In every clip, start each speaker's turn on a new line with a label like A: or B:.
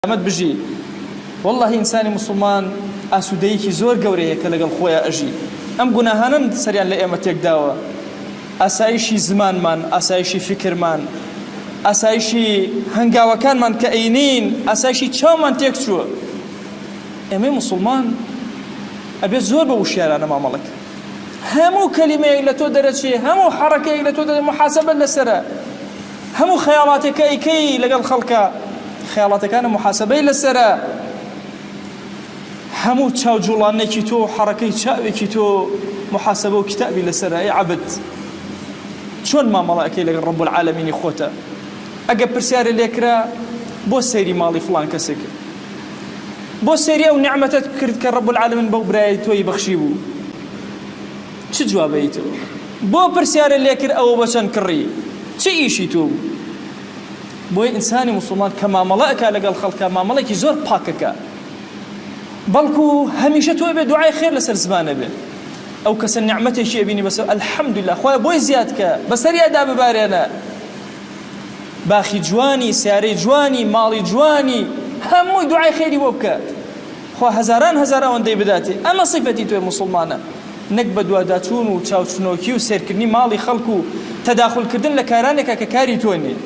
A: سەلامەت بژی واللە ئینسانی موسڵمان ئاسودەیەکی زۆر گەورەیە کە لەگەڵ خۆیا ئەژی ئەم گوناهانەن سەریان لە ئێمە تێکداوە ئاسایشی زمانمان ئاسایشی فکرمان ئاسایشی هەنگاوەکانمان کە ئەینین ئاسایشی چاومان تێک چووە ئێمەی موسڵمان ئەبێت زۆر بە وشیارانە مامەڵەکە هەموو کەلیمەیەک لە تۆ دەرەچێ هەموو حەڕەکەیەک لە تۆ دەرە محاسبە لەسرە هەموو خەیاڵاتێک کە ئەیکەی لەگەڵ خەڵکە خەیاڵاتەکانە موحاسەبەی لەسەرە هەموو چاو جوڵانێکی تۆ حەڕەکەی چاوێکی تۆ محاسبە و کتابی لەسەر ئەی عبد چۆن مامەڵەکەی لەگەڵ ڕب العالمینی خۆتە ئەگە پرسیارە لێکرا بۆ سەیری ماڵی فلان کەسێک بۆ سەیری ئەو نعمەتت کرد کە ڕب العالمین بەو برای تۆی بەخشی بوو چ جوابەی تۆ بۆ پرسیارە لێکرد ئەوە بە چەند کڕی چ ئیشی تۆ بوو بۆی ئینسانی مسلمان کە مامەڵە ئەکا لەگەڵ خەڵکە مامەڵێکی زۆر پاکەکە بەڵکو هەمیشە تۆ بێ دوعای خێر لەسەر زمانە بێ ئەو کەسە نعمەتێکی ئەبینی بەسەر الحمدلله خۆی بۆی زیاد کە بەسەریادا ببارێنە باخی جوانی سیارەی جوانی ماڵی جوانی هەمووی دوعای خێری بۆ بکە خوا هەزاران هەزار ئەوەندەی بداتێ. ئەمە سیفەتی تۆی موسڵمانە نەک بەدواداچوون و چاوچنۆکی و سێرکردنی ماڵی خەڵک و تەداخول کردن لە کارانێکا کە کاری تۆ نیە.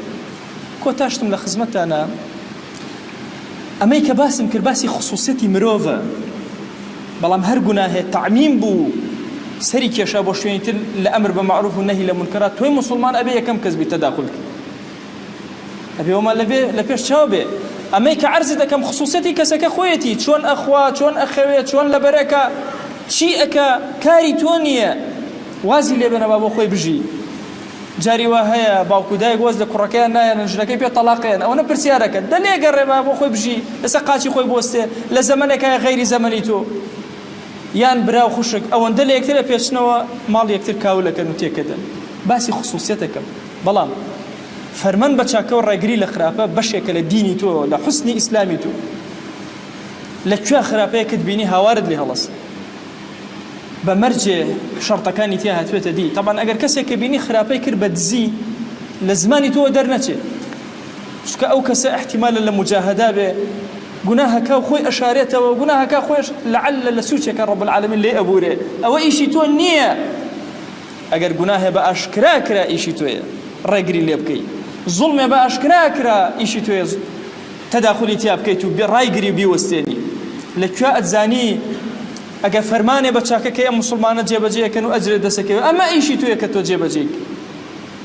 A: کۆتا شتم لە خزمەتتانا ئەمەی کە باسم کرد باسی خسوسیەتی مرۆڤە بەڵام هەر گوناهێ تەعمیم بوو و سەری کێشا بۆ شوێنی تر لە ئەمر بە مەعروف و نەهی لە مونکەرات تۆی موسڵمان ئەبێ یەکەم کەس بیت تەداخول کەی. ئەبێ وەمان لەبێ لە پێش چاو بێ ئەمەی کە عەرزی دەکەم خصوصەتی کەسەکە خۆیەتی چۆن ئەخوا چۆن ئەخەوێ چۆن لەبەرەکە چی ئەکە کاری تۆ نییە وازی لێبێنەوە بۆ خۆی بژی جاری وا هەیە باوکو دایک وەز لە کوڕەکەیان نایەنن ژنەکەی پێ تەلاقیان ئەوە نە پرسیارەکە دەلێ گەڕێبا بۆ خۆی بژی ئێستا قاچی خۆی بۆستێ لە زەمنێکە غەیری زەمەنی تۆ یان براو خوشک ئەوەندە لە یەکترە پێچنەوە ماڵ یەکتر کاولەکەن و تێکەدەن باسی خصوصیتەکەم بەڵام فەرمان بە چاکەو ڕێگری لە خراپە بەشێکە لە دینی تۆ لە حوسنی ئیسلامی تۆ لە کوێ خراپەیەکت بینی هاوارت لێ هەڵەس بە مەرجێ شەڕتەکانی تیا هاتوێتە دی تەبان ئەگەر کەسێک کە بینی خراپەی کرد بە دزی لە زمانی تۆ دەرنەچێ چکە ئەو کەسە احتیمالە لە مجاهدا بێ گوناهەکە و خۆی ئەشارێتەوە گوناهەکە خۆش لەعل لە سوچێکە ڕب العالمین لێ ئەبورێ ئەوە ئیشی تۆ نییە ئەگەر گوناهێ بە ئاشکرا کرا ئیشی تۆیە ڕێگری لێ بکەی، زوڵمێ بە ئاشکرا کرا ئیشی تۆیە تەداخولی تیا بکەیت و ڕایگری و بیوەستێنی، لە کوێ ئەتزانی ئەگەر فەرمانێ بە چاکەکەی ئەم موسڵمانە جێبەجێ ئەکەن و ئەجرێ دەست ئەکەوێ ئەمە ئیشی تۆیە کە تۆ جێبەجێی بکەی،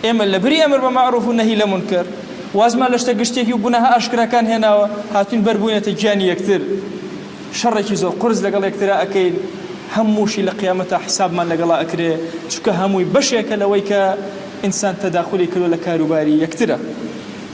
A: ئێمە لە بری ئەمر بە مەعروف و نەهی لە مونکەر وازمان لە شتە گشتێکی و گوناهە ئاشکراکان هێناوە هاتووین بەر بووینەتە گیانی یەکتر. شەڕێکی زۆر قورس لەگەڵ یەکترا ئەکەین هەمووشی لە قیامەتا حسابمان لەگەڵا ئەکرێ چونکە هەمووی بەشێکە لەوەی کە ئینسان تەداخولی کردوە لە کاروباری یەکترا.